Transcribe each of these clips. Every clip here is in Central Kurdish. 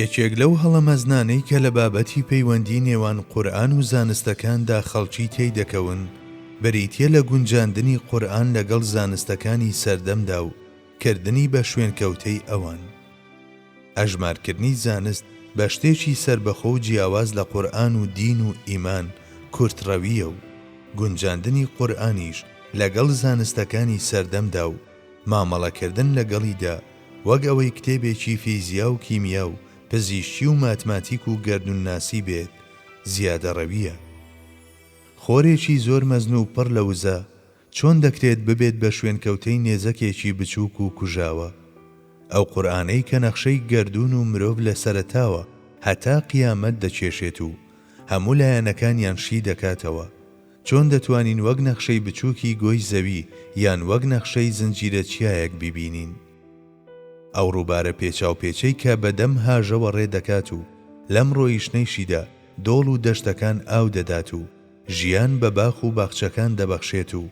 یەکێک لەو هەڵە مەزنانەی کە لە بابەتی پەیوەندی نێوان قورئان و زانستەکاندا خەڵکی تێی دەکەون بریتیە لە گونجاندنی قورئان لەگەڵ زانستەکانی سەردەمدا و کردنی بە شوێنکەوتەی ئەوان. ئەژمارکردنی زانست بە شتێکی سەربەخۆ و جیاواز لە قورئان و دین و ئیمان کورتڕەویە و گونجاندنی قورئانیش لەگەڵ زانستەکانی سەردەمدا و مامەڵەکردن لەگەڵیدا وەک ئەوەی کتێبێکی فیزیا و کیمیا و پزیشکی و ماتماتیک و گەردوونناسی بێت زیادەڕەوییە. خۆرێکی زۆر مەزن و پڕ لە وزە چۆن دەکرێت ببێت بە شوێنکەوتەی نێزەکێکی بچووک و کوژاوە؟ ئەو قورئانەی کە نەخشەی گەردوون و مرۆڤ لە سەرەتاوە هەتا قیامەت دەکێشێت و هەموو لایەنەکانیان شی دەکاتەوە، چۆن دەتوانین وەک نەخشەی بچووکی گۆی زەوی یان وەک نەخشەی زنجیرە چیایەک بیبینین ئەو ڕووبارە پێچاوپێچەی کە بە دەم هاژەوە ڕێ دەکات و لەم ڕۆیشتنەیشیدا دۆڵ و دەشتەکان ئاو دەدات و ژیان بە باخ و باخچەکان دەبەخشێت و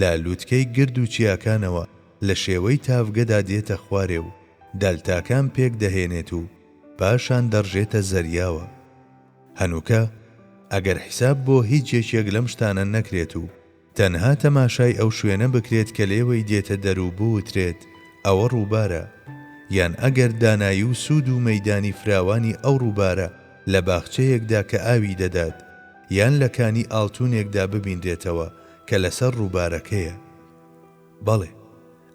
لە لووتکەی گرد و چیاکانەوە لە شێوەی تاڤگەدا دێتە خوارێ و دەلتاکان پێک دەهێنێت و پاشان دەڕژێتە زەریاوە. هەنووکە ئەگەر حیساب بۆ هیچ یەکێک لەم شتانە نەکرێت و تەنها تەماشای ئەو شوێنە بکرێت کە لێوەی دێتە دەر و بوترێت ئەوە ڕووبارە، یان ئەگەر دانایی و سوود و مەیدانی فراوانی ئەو ڕووبارە لە باخچەیەکدا کە ئاوی دەدات، یان لە کانی ئاڵتونێکدا ببینرێتەوە کە لەسەر ڕووبارەکەیە. بەڵێ.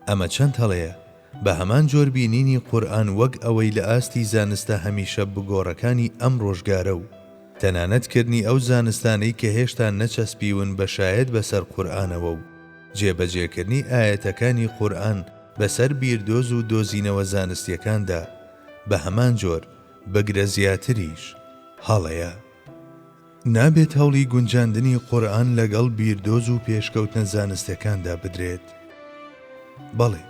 ئەمە چەند هەڵەیە، بە هەمان جۆر بینینی قورئان وەک ئەوەی لە ئاستی زانستە هەمیشە بگۆڕەکانی ئەم ڕۆژگارە و تەنانەت کردنی ئەو زانستانەی کە هێشتا نەچەسپیون بە شایەت بەسەر قورئانەوە و جێبەجێکردنی ئایەتەکانی قورئان بەسەر بیردۆز و دۆزینەوە زانستیەکاندا بە هەمان جۆر بگرە زیاتریش هەڵەیە. نابێت هەوڵی گونجاندنی قورئان لەگەڵ بیردۆز و پێشکەوتنە زانستەکاندا بدرێت. بەڵێ،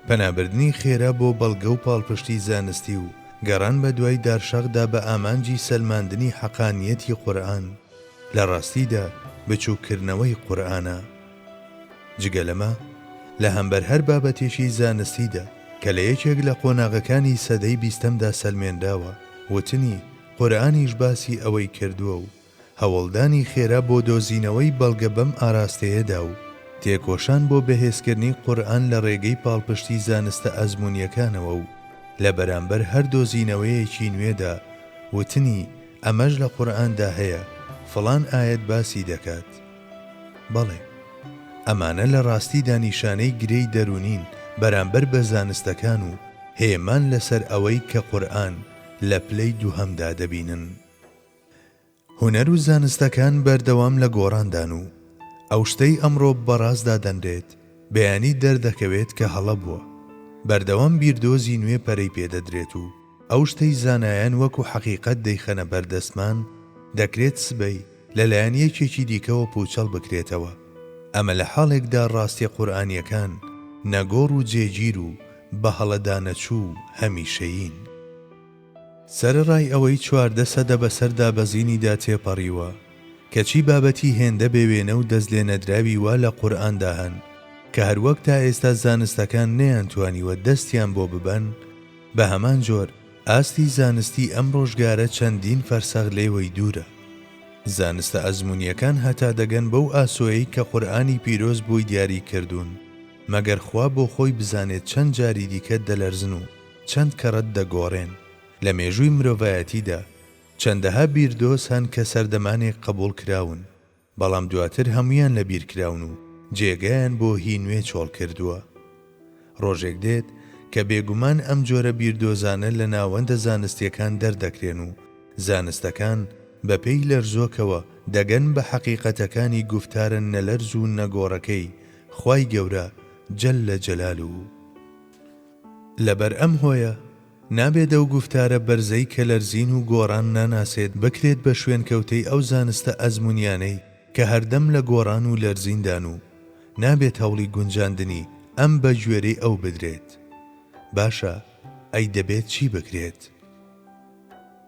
پەنابردنی خێرا بۆ بەڵگە و پاڵپشتی زانستی و گەڕان بە دوای دارشاخدا بە ئامانجی سەلماندنی حەقانییەتی قورئان، لە ڕاستیدا بچووککردنەوەی قورئانە. جگە لەمە، لە هەمبەر هەر بابەتێکی زانستیدا کە لە یەکێک لە قۆناغەکانی سەدەی بیستەمدا سەلمێنراوە، وتنی، قورئانیش باسی ئەوەی کردووە و هەوڵدانی خێرا بۆ دۆزینەوەی بەڵگە بەم ئاراستەیەدا و تێکۆشان بۆ بەهێزکردنی قورئان لە ڕێگەی پاڵپشتی زانستە ئەزموونییەکانەوە و لە بەرامبەر هەر دۆزینەوەیەکی نوێدا وتنی ئەمەش لە قورئاندا هەیە، فڵان ئایەت باسی دەکات. بەڵێ. ئەمانە لە ڕاستیدا نیشانەی گرێی دەروونین بەرامبەر بە زانستەکان و هێمان لەسەر ئەوەی کە قورئان، لە پلەی دووهەمدا دەبینن. هونەر و زانستەکان بەردەوام لە گۆڕاندان و ئەو شتەی ئەمڕۆ بەڕاست دادەنرێت، بەیانی دەردەکەوێت کە هەڵە بووە. بەردەوام بیردۆزی نوێ پەرەی پێ دەدرێت و ئەو شتەی زانایان وەکو حەقیقەت دەیخەنە بەردەستمان، دەکرێت سبەی، لەلایەن یەکێکی دیکەوە پووچەڵ بکرێتەوە، ئەمە لە حاڵێکدا ڕاستییە قورئانییەکان نەگۆڕ و جێگیر و بەهەڵەدانەچوو و هەمیشەیین. سەرەڕای ئەوەی چواردە سەدە بەسەر دابەزینیدا تێپەڕیوە، کەچی بابەتی هێندە بێوێنە و دەستلێنەدراوی وا لە قورئاندا هەن کە هەروەک تا ئێستا زانستەکان نەیانتوانیوە دەستیان بۆ ببەن، بەهەمان جۆر، ئاستی زانستی ئەم ڕۆژگارە چەندین فەرسەخ لێوەی دوورە. زانستە ئەزموونییەکان هەتا دەگەن بەو ئاسۆیەی کە قورئانی پیرۆز بۆی دیاری کردوون، مەگەر خوا بۆ خۆی بزانێت چەند جاری دیکە دەلەرزن و چەند کەڕەت دەگۆڕێن. لە مێژووی مرۆڤایەتیدا چەندەها بیردۆز هەن کە سەردەمانێک قەبووڵ کراون، بەڵام دواتر هەموویان لەبیرکراون و جێگایان بۆ هی نوێ چۆڵ کردووە. ڕۆژێک دێت کە بێگومان ئەم جۆرە بیردۆزانە لە ناوەندە زانستییەکان دەردەکرێن و زانستەکان بەپێی لەرزۆکەوە دەگەن بە حەقیقەتەکانی گوفتارە نەلەرز و نەگۆڕەکەی خوای گەورە جل جلاله و لەبەر ئەم هۆیە نابێت ئەو گوفتارە بەرزەی کە لەرزین و گۆڕان ناناسێت بکرێت بە شوێنکەوتەی ئەو زانستە ئەزموونیانەی کە هەردەم لە گۆڕان و لەرزیندان و نابێت هەوڵی گونجاندنی ئەم بە گوێرەی ئەو بدرێت. باشە ئەی دەبێت چی بکرێت؟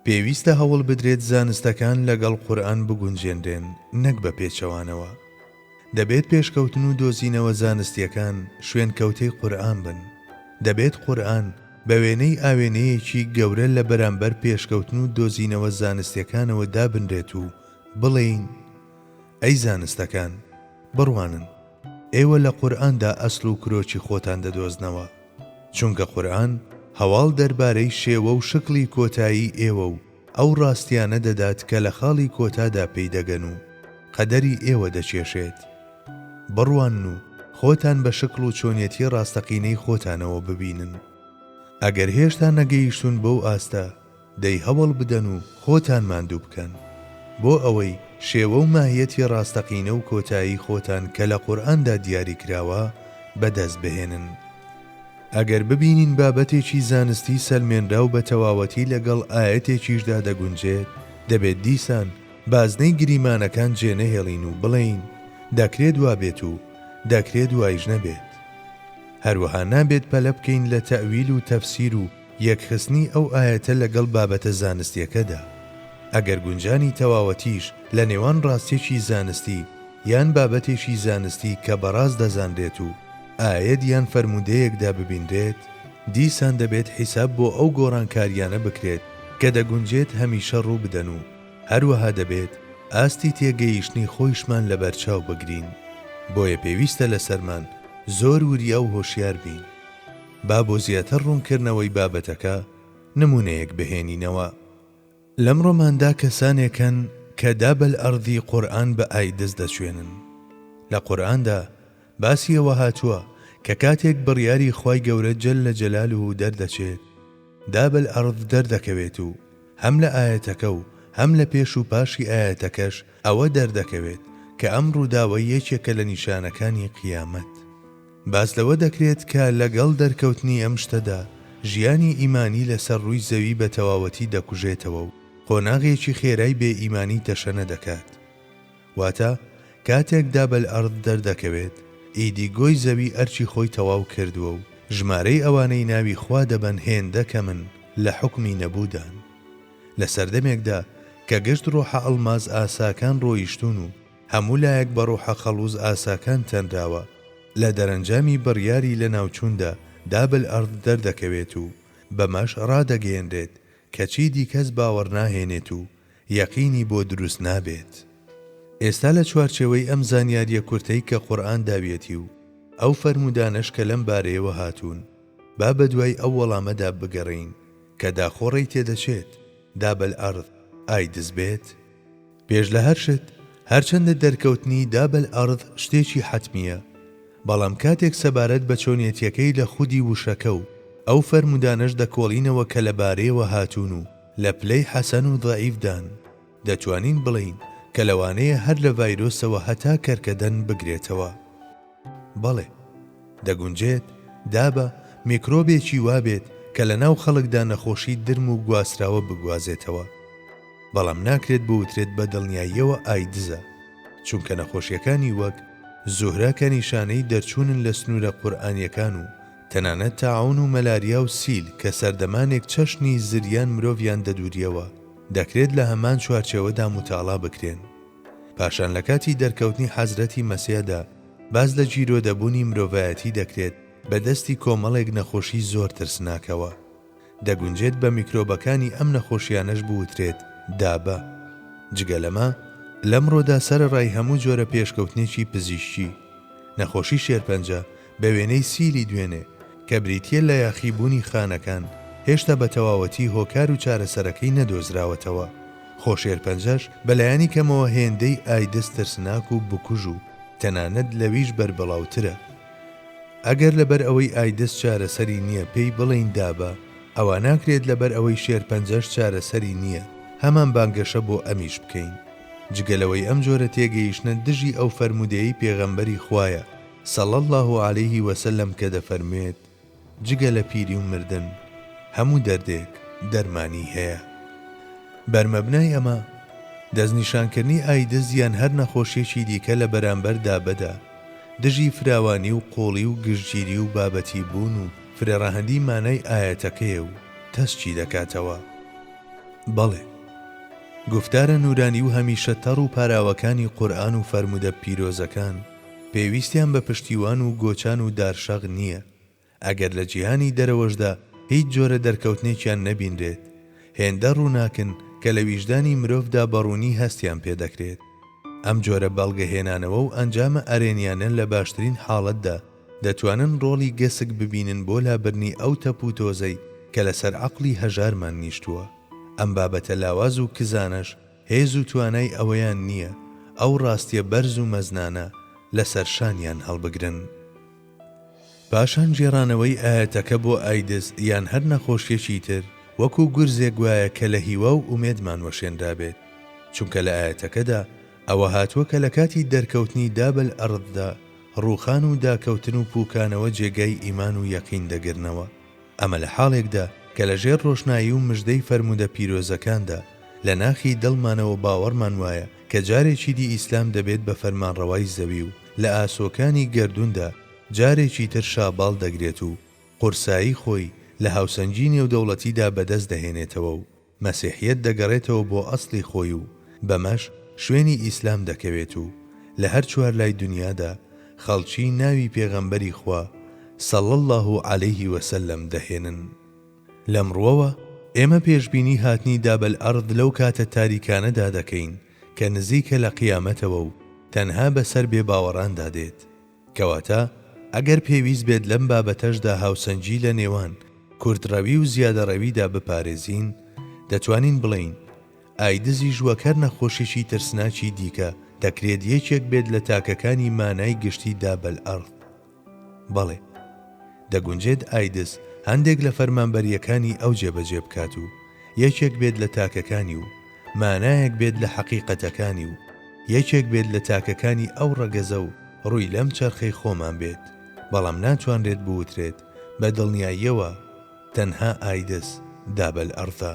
پێویستە هەوڵ بدرێت زانستەکان لەگەڵ قورئان بگونجێنرێن نەک بە پێچەوانەوە. دەبێت پێشکەوتن و دۆزینەوە زانستییەکان شوێنکەوتەی قورئان بن. دەبێت قورئان بە وێنەی ئاوێنەیەکی گەورە لە بەرامبەر پێشکەوتن و دۆزینەوە زانستییەکانەوە دابنرێت و بڵێین، ئەی زانستەکان، بڕوانن، ئێوە لە قورئاندا ئەسڵ و کرۆکی خۆتان دەدۆزنەوە. چونکە قورئان هەواڵ دەربارەی شێوە و شکڵی کۆتایی ئێوە و ئەو ڕاستیانە دەدات کە لە خاڵی کۆتادا پێی دەگەن و قەدەری ئێوە دەکێشێت. بڕوانن و خۆتان بە شکڵ و چۆنیەتی ڕاستەقینەی خۆتانەوە ببینن. ئەگەر هێشتا نەگەیشتوون بەو ئاستە، دەی هەوڵ بدەن و خۆتان ماندوو بکەن بۆ ئەوەی شێوە و ماهیەتی ڕاستەقینە و کۆتایی خۆتان کە لە قورئاندا دیاری کراوە بەدەست بهێنن. ئەگەر ببینین بابەتێکی زانستی سەلمێنراو بە تەواوەتی لەگەڵ ئایەتێکیشدا دەگونجێت، دەبێت دیسان بازنەی گریمانەکان جێ نەهێڵین و بڵێین دەکرێت وا بێت و دەکرێت وایش نەبێت. هەروەها نابێت پەلە بکەین لە تەئویل و تەفسیر و یەکخستنی ئەو ئایەتە لەگەڵ بابەتە زانستیەکەدا، ئەگەر گونجانی تەواوەتیش لە نێوان ڕاستیەکی زانستی یان بابەتێکی زانستی کە بەڕاست دەزانرێت و ئایەت یان فەرموودەیەکدا ببینرێت، دیسان دەبێت حیساب بۆ ئەو گۆڕانکاریانە بکرێت کە دەگونجێت هەمیشە ڕووبدەن و هەروەها دەبێت ئاستی تێگەیشتنی خۆیشمان لەبەرچاو بگرین، بۆیە پێویستە لەسەرمان زۆر وریا و هۆشیار بین. با بۆ زیاتر ڕوونکردنەوەی بابەتەکە نموونەیەک بهێنینەوە. لەم ڕۆماندا کەسانێک هەن کە داب الارضی قورئان بە ئایدز دەچوێنن. لە قورئاندا باسی ئەوە هاتووە کە کاتێک بڕیاری خوای گەورە جل جلاله دەردەچێت، داب الارض دەردەکەوێت و هەم لە ئایەتەکە و هەم لە پێش و پاشی ئایەتەکەش ئەوە دەردەکەوێت کە ئەم ڕووداوە یەکێکە لە نیشانەکانی قیامەت. باس لەوە دەکرێت کە لەگەڵ دەرکەوتنی ئەم شتەدا، ژیانی ئیمانی لەسەر ڕووی زەوی بە تەواوەتی دەکوژێتەوە و قۆناغێکی خێرای بێ ئیمانی تەشەنە دەکات. واتە، کاتێک داب الارض دەردەکەوێت، ئیدی گۆی زەوی ئەرکی خۆی تەواو کردووە و ژمارەی ئەوانەی ناوی خوا دەبەن هێندە کەمن لە حوکمی نەبوودان. لە سەردەمێکدا کە گشت ڕۆحە ئەڵماس ئاساکان ڕۆیشتوون و، هەموو لایەک بە ڕۆحە خەڵوز ئاساکان تەنراوە. لە دەرەنجامی بڕیاری لەناوچووندا دابل ئەرد دەردەکەوێت و بەمەش ڕادەگەیەنرێت کە چیدی کەس باوەڕ ناهێنێت و یەقینی بۆ دروست نابێت. ئێستا لە چوارچێوەی ئەم زانیارییە کورتەی کە قورئان داویەتی و ئەو فەرموودانەش کە لەم بارەیەوە هاتوون، با بەدوای ئەو وەڵامەدا بگەڕێین کە داخۆ ڕێی تێدەچێت دابل ئەرد ئای دز بێت؟ پێش لە هەر شت، هەرچەندە دەرکەوتنی داب الارض شتێکی حەتمییە، بەڵام کاتێک سەبارەت بە چۆنیەتییەکەی لە خودی وشەکە و ئەو فەرموودانەش دەکۆڵینەوە کە لە بارەیەوە هاتوون و لە پلەی حەسەن و ضەعیف دان، دەتوانین بڵێین کە لەوانەیە هەر لە ڤایرۆسەوە هەتا کەرکەدەن بگرێتەوە. بەڵێ دەگونجێت، دابە میکرۆبێکی وا بێت کە لە ناو خەڵکدا نەخۆشی درم و گواستراوە بگوازێتەوە، بەڵام ناکرێت بوترێت بە دڵنیاییەوە ئایدزە، چونکە نەخۆشییەکانی وەک زوهرە کە نیشانەی دەرچوونن لە سنوورە قورئانییەکان و تەنانەت تاعوون و مەلاریا و سیل کە سەردەمانێک چەشنی زریان مرۆڤیان دەدورییەوە، دەکرێت لە هەمان چوارچێوەدا موتاڵا بکرێن. پاشان لە کاتی دەرکەوتنی حەزرەتی مەسیحدا باس لە گیرۆدەبوونی مرۆڤایەتی دەکرێت بە دەستی کۆمەڵێک نەخۆشی زۆر ترسناکەوە. دەگونجێت بە میکرۆبەکانی ئەم نەخۆشیانەش بوترێت دابە. جگە لەمە، لەمڕۆدا سەرەڕای هەموو جۆرە پێشکەوتنێکی پزیشکی، نەخۆشی شێرپەنجە، بە وێنەی سیلی دوێنێ، کە بریتییە لە یاخیبوونی خانەکان، هێشتا بە تەواوەتی هۆکار و چارەسەرەکەی نەدۆزراوەتەوە. خۆشێرپەنجەش بە لایەنی کەمەوە هێندەی ئایدز ترسناک و بکوژ و تەنانەت لەویش بەربڵاوترە. ئەگەر لەبەر ئەوەی ئایدز چارەسەری نییە پێی بڵێین دابە، ئەوا ناکرێت لەبەر ئەوەی شێرپەنجەش چارەسەری نییە هەمان بانگەشە بۆ ئەمیش بکەین. جگە لەوەی ئەم جۆرە تێگەیشتنە دژی ئەو فەرموودەیەی پێغەمبەری خوایە، صلی اللە علیە وسلم کە دەفەرموێت، جگە لە پیری و مردن هەموو دەردێک دەرمانی هەیە. بەرمەبنای ئەمە، دەستنیشانکردنی ئایدز یان هەر نەخۆشیەکی دیکە لە بەرامبەر دابەدا دژی فراوانی و قوڵی و گشتگیری و بابەتی بوون و فرەڕەهەندی مانای ئایەتەکەیە و تەسکی دەکاتەوە بەڵێ گوفتارە نورانی و هەمیشە تەڕ و پاراوەکانی قورئان و فەرموودە پیرۆزەکان پێویستیان بە پشتیوان و گۆچان و دارشاغ نییە، ئەگەر لە جیهانی دەرەوەشدا هیچ جۆرە دەرکەوتنێکیان نەبینرێت، هێندە ڕووناکن کە لە ویژدانی مرۆڤدا بە ڕوونی هەستیان پێ دەکرێت. ئەم جۆرە بەڵگەهێنانەوە و ئەنجامە ئەرێنییانە لە باشترین حاڵەتدا، دەتوانن ڕۆڵی گەسک ببینن بۆ لابردنی ئەو تەپ و تۆزەی کە لەسەر عەقڵی هەژارمان نیشتووە. ئەم بابەتە لاواز و کزانەش، هێز و توانای ئەوەیان نییە ئەو ڕاستیە بەرز و مەزنانە لەسەر شانیان هەڵبگرن. پاشان گێڕانەوەی ئایەتەکە بۆ ئایدز یان هەر نەخۆشیەکی تر وەکو گورزێک وایە کە لە هیوا و ئومێدمان وەشێنرابێت، چونکە لە ئایەتەکەدا ئەوە هاتووە کە لە کاتی دەرکەوتنی داب الارضدا ڕووخان و داکەوتن و پووکانەوە جێگای ئیمان و یەقین دەگرنەوە. ئەمە لە حاڵێکدا کە لە ژێر ڕۆشنایی و مژدەی فەرموودە پیرۆزەکاندا، لە ناخی دڵمانەوە باوەڕمان وایە کە جارێکی دی ئیسلام دەبێت بە فەرمانڕەوای زەوی و لە ئاسۆکانی گەردووندا جارێکی تر شاباڵ دەگرێت و قورسایی خۆی لە هاوسەنگی نێودەوڵەتیدا بەدەست دەهێنێتەوە و مەسیحیەت دەگەڕێتەوە بۆ ئەسڵی خۆی و بەمەش شوێنی ئیسلام دەکەوێت و لە هەر چوار لای دنیادا خەڵکی ناوی پێغەمبەری خوا صلی اللە علیه وسلم دەهێنن. لەم ڕووەوە ئێمە پێشبینی هاتنی داب الارض لەو کاتە تاریکانەدا دەکەین کە نزیکە لە قیامەتەوە و تەنها بەسەر بێباوەڕاندا دێت. کەواتە ئەگەر پێویست بێت لەم بابەتەشدا هاوسەنگی لە نێوان کورتڕەوی و زیادەڕەویدا بپارێزین، دەتوانین بڵێین، ئایدزی ژووەک هەر نەخۆشیی ترسناکی دیکە دەکرێت یەکێک بێت لە تاکەکانی مانای گشتی دابەلئەرد. بەڵێ، دەگونجێت ئایدز هەندێک لە فەرمانبەرییەکانی ئەو جێبەجێ بکات و یەکێک بێت لە تاکەکانی و، مانایەک بێت لە حەقیقەتەکانی و یەکێک بێت لە تاکەکانی ئەو ڕەگەزە و ڕووی لەم چەرخەی خۆمان بێت، بەڵام ناتوانرێت بوترێت بە دڵنیاییەوە تەنها ئایدز داب الارض ە.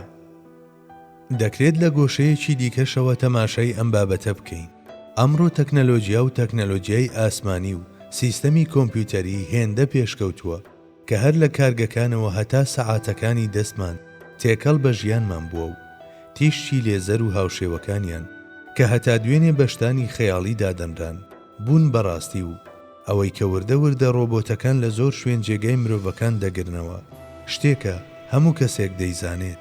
دەکرێت لە گۆشەیەکی دیکەشەوە تەماشای ئەم بابەتە بکەین، ئەمڕۆ تەکنەلۆجیا و تەکنەلۆجیای ئاسمانی و سیستەمی کۆمپیوتەری هێندە پێشکەوتووە، کە هەر لە کارگەکانەوە هەتا سەعاتەکانی دەستمان تێکەڵ بە ژیانمان بووە و تیشکی لێزەر و هاوشێوەکانیان کە هەتا دوێنێ بە شتانی خەیاڵی دادەنران، بوون بە ڕاستی و ئەوەی کە وردە وردە ڕۆبۆتەکان لە زۆر شوێن جێگای مرۆڤەکان دەگرنەوە، شتێکە هەموو کەسێک دەیزانێت.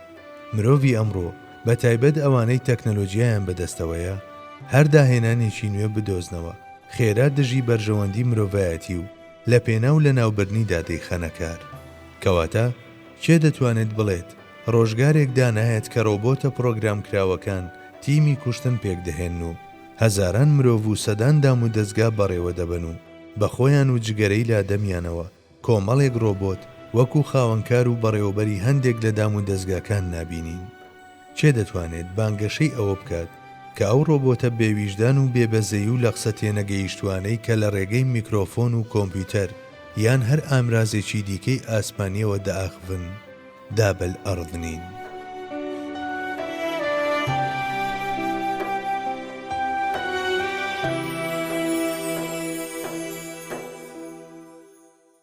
مرۆڤی ئەمڕۆ، بە تایبەت ئەوانەی تەکنەلۆجیایان بە دەستەوەیە، هەر داهێنانێکی نوێ بدۆزنەوە، خێرا دژی بەرژەوەندی مرۆڤایەتی و لە پێناو لەناوبردنیدا دەیخەنە کار. کەواتە کێ دەتوانێت بڵێت ڕۆژگارێک دانایەت کە ڕۆبۆتە پڕۆگرامکراوەکان تیمی کوشتن پێکدەهێنن و هەزاران مرۆڤ و سەدان دامودەزگا بەڕێوەدەبەن و بە خۆیان و جگەرەی لادەمیانەوە کۆمەڵێک ڕۆبۆت وەکو خاوەنکار و بەڕێوەبەری هەندێک لە دامودەزگاکان نابینین؟ کێ دەتوانێت بانگەشەی ئەوە بکات کە ئەو ڕۆبۆتە بێ ویژدان و بێ بەزەی و لەقسە تێنەگەیشتوانەی کە لە ڕێگەی میکرۆفۆن و کۆمپیوتەر یان هەر ئامرازێکی دیکەی ئاسمانیەوە دەئاخڤن دابەل ئەڕد نین؟